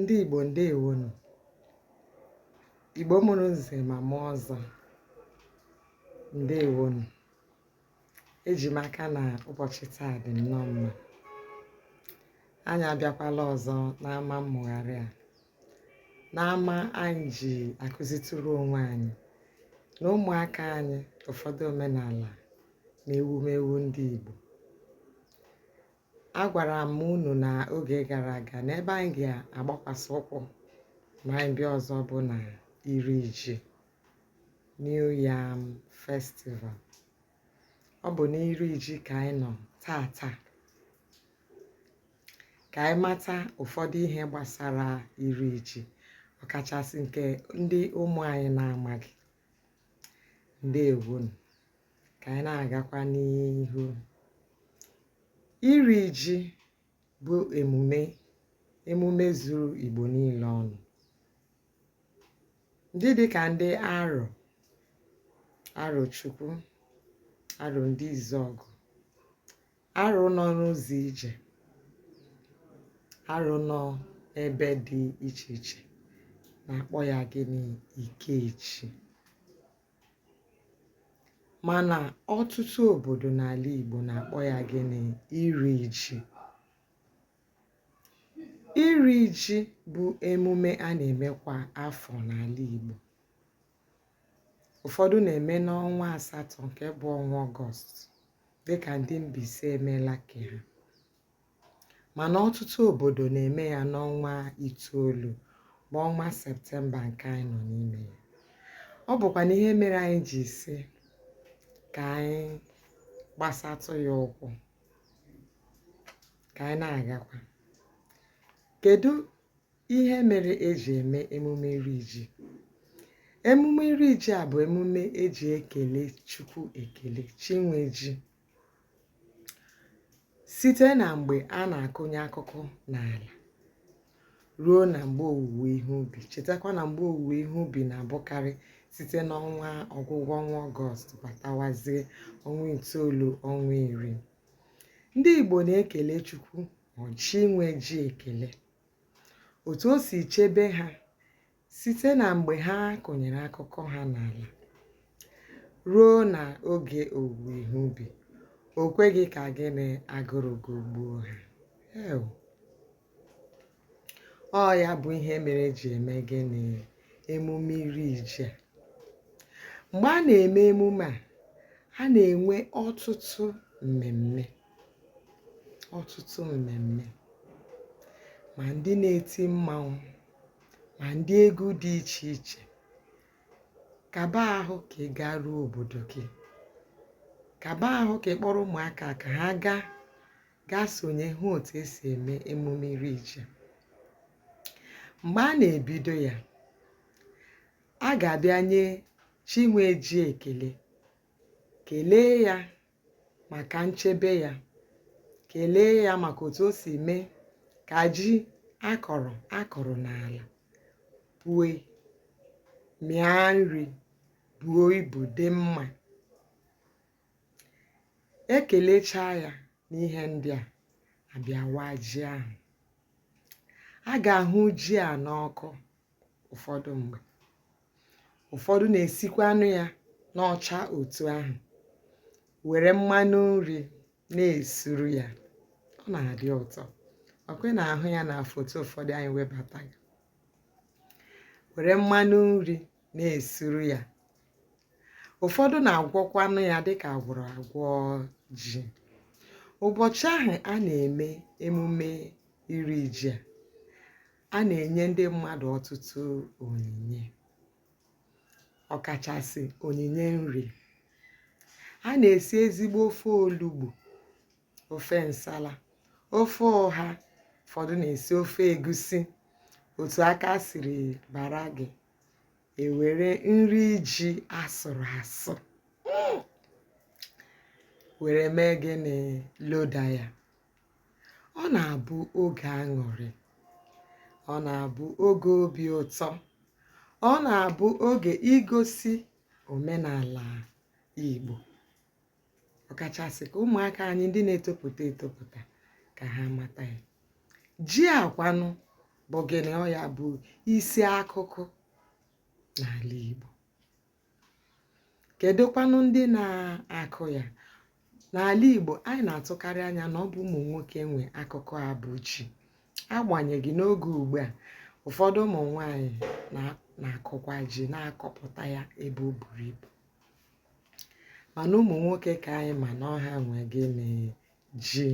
ndị Igbo ndewonu Igbo mụrụ nze ma mụọ ọzọ ndewonu eji m aka na ụbọchị taa dị nnọọ mma anyị abịakwala ọzọ n'ama mmụgharị a n'ama anyị ji akụzitụrụ onwe anyị na ụmụaka anyị ụfọdụ omenala na ewumewu ndị Igbo agwara m unu na oge gara aga na ebe anyị ga-agbakwasị ụkwụ ma anyị bịa ọzọ bụ na iri ji New Yam Festival. Ọ bụ n'iri ji ka anyị nọ taa taa ka anyị mata ụfọdụ ihe gbasara iri ji ọkachasị nke ndị ụmụ anyị na-amaghị ndewonu ka anyị na-agakwa n'ihu iri ji bụ emume emume zuru Igbo niile ọnụ ndị dịka ndị Aro Arochukwu Aro Ndizuogu Aro nọ n'ụzọ ije Aro nọ ebe dị iche iche na-akpọ ya gịnị Ikeji Mana ọtụtụ obodo n'ala Igbo na-akpọ ya gịnị? Iri ji. Iri ji bụ emume a na-eme kwa afọ n'ala Igbo. Ụfọdụ na-eme n'ọnwa asatọ nke bụ ọnwa Ọgọst dịka ndị Mbaise emeela nke ha. mana ọtụtụ obodo na-eme ya n'ọnwa itoolu bụ ọnwa septemba nke anyị nọ n'ime ya ọ bụkwanụ ihe mere anyị ji sị ka anyị gbasatụ ya ụkwụ ka anyị na-agakwa kedu ihe mere eji eme emume iri ji emume iri ji a bụ emume eji ekele chukwu ekele chi nwe ji site na mgbe a na-akụnye akụkụ n'ala ruo na mgbe owuwe ihe ubi chetakwa na mgbe owuwe ihe ubi na-abụkarị site n'ọnwa ọgwụgwụ ọnwa ọgọst batawazie ọnwa itoolu ọnwa iri ndị igbo na-ekele chukwu chi nwe ji ekele otu o si chebe ha Site na mgbe ha kụnyere akụkụ ha n'ala ruo na oge owuwe ihe ubi, o kweghị ka gịnị agụrụ gụgbuo ha. Ee. Ọ ya bụ ihe mere eji eme gịnị emume iri ji a. Mgbe a na-eme emume a, a na-enwe ọtụtụ mmemme ọtụtụ mmemme ma ndị na-eti mmanwụ ma ndị egwu dị iche iche kaba ahụ ka ị gaa ruo obodo gị kaba ahụ ka ị kpọrọ ụmụaka ka ha gaa gaa sonye hụ otu esi eme emume iri ji mgbe a na-ebido ya a ga-abịa nye chi nwe ji ekele kelee ya maka nchebe ya kelee ya maka otu o si mee ka ji akọrọ akọrọ n'ala pue mịa nri buo ibu dị mma ekelechaa ya n'ihe ndị a a bịa waa ji ahụ a ga-ahụ ji a n'ọkụ ụfọdụ mgbe ụfọdụ na-esikwanụ ya n'ọcha otu ahụ were mmanụ nri na-esuru ya ọ na-adị ụtọ ọ kwa ị na-ahụ ya na foto ụfọdụ anyị webata ya were mmanụ nri na-esuru ya ụfọdụ na-agwọkwanụ ya dịka agwọrọ agwọ ji ụbọchị ahụ a na-eme emume iri ji a a na-enye ndị mmadụ ọtụtụ onyinye ọkachasị onyinye nri a na-esi ezigbo ofe olugbu ofe nsala ofe ụha ụfọdụ na-esi ofe egusi otu aka siri bara gị e were nri ji asụrụ asụ were mee gịnị loda ya ọ na-abụ oge aṅụrị ọ na-abụ oge obi ụtọ ọ na-abụ oge igosi omenala Igbo ọkachasị ka ụmụaka anyị ndị na-etopụta etopụta ka ha mata ya ji a kwanụ bụ gịnị ọ ya bụ isi akụkụ n'ala Igbo kedụkwanụ ndị na-akụ ya n'ala Igbo anyị na-atụkarị anya na ọ bụ ụmụ nwoke nwe akụkụ a bụ ji agbanyeghị n'oge ugbu a ụfọdụ ụmụ nwanyị na-akụkwa ji na-akọpụta ya ebe o buru ibu mana ụmụ nwoke ka anyị ma na ọ ha nwe gịnị ji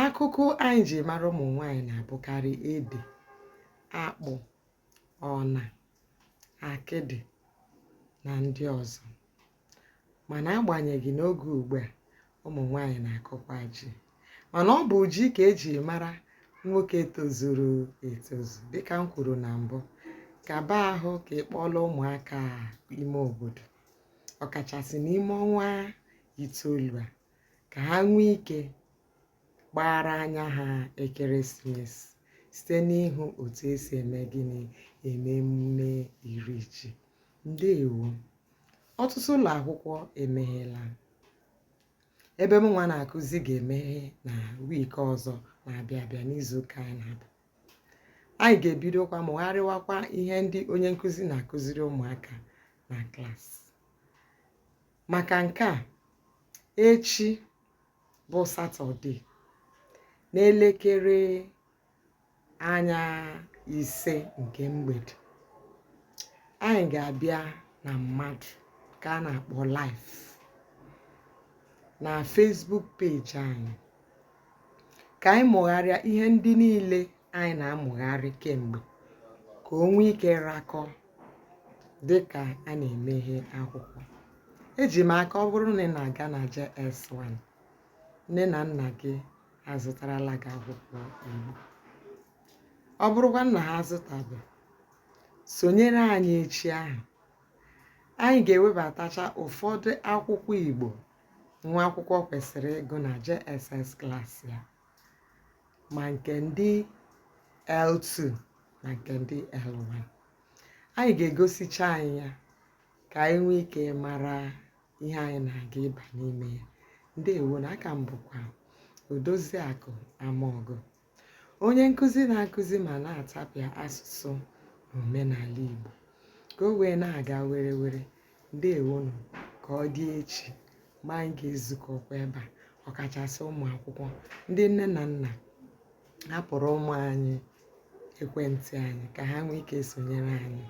Akụkụ anyị ji mara ụmụ nwaanyị na-abụkarị ede, akpụ, ọna, akịdị na ndị ọzọ. Mana agbanyeghị n'oge ugbu a, ụmụ nwaanyị na-akụkwa ji. Mana ọ bụ ji ka eji mara nwoke tozuru etozu dịka m kwuru na mbụ. Kaba ahụ ka ị kpọlaa ụmụaka ime obodo ọkachasị n'ime ọnwa itoolu a. ka ha nwee ike gbaara anya ha ekeresimesi site n'ịhụ otu esi eme gịnị eme emume iri ji ndewo ọtụtụ ụlọ akwụkwọ emeghela ebe m nwa na-akụzi ga-emeghe na week ọzọ na-abịa abịa n'izuụka anyị na-aba anyị ga-ebidokwa mụgharịwakwa ihe ndị onye nkụzi na-akụziri ụmụaka na klaasị maka nke a echi bụ satọde n'elekere anya ise nke mgbede anyị ga-abịa na mmadụ ka a na-akpọ live na Facebook page anyị ka anyị mụgharịa ihe ndị niile anyị na-amụgharị kemgbe ka o nwee ike rakọ dị ka a na-emeghe akwụkwọ eji m aka ọ bụrụ na ị na-aga na JS1 nne na nna gị azụtarala gị akwụkwọ Igbo ọ bụrụkwa na ha azụtabe sonyere anyị echi ahụ anyị ga-ewebatacha ụfọdụ akwụkwọ Igbo nwa akwụkwọ kwesịrị ịgụ na JSS klaasị ya ma nke ndị L2 ma nke ndị L1 anyị ga-egosicha anyị ya ka anyị nwee ike mara ihe anyị na-aga ịba n'ime ya ndewonụ a ka m bụkwa Odoziakụ Amaọgụ onye nkụzi na-akụzi ma na-atapịa asụsụ na omenala Igbo ka o wee na-aga were were ndewonụ ka ọ dị echi mgbe anyị ga-ezukọkwa ebe a ọkachasị ụmụ akwụkwọ ndị nne na nna hapụrụ ụmụ anyị ekwentị anyị ka ha nwee ike sonyere anyị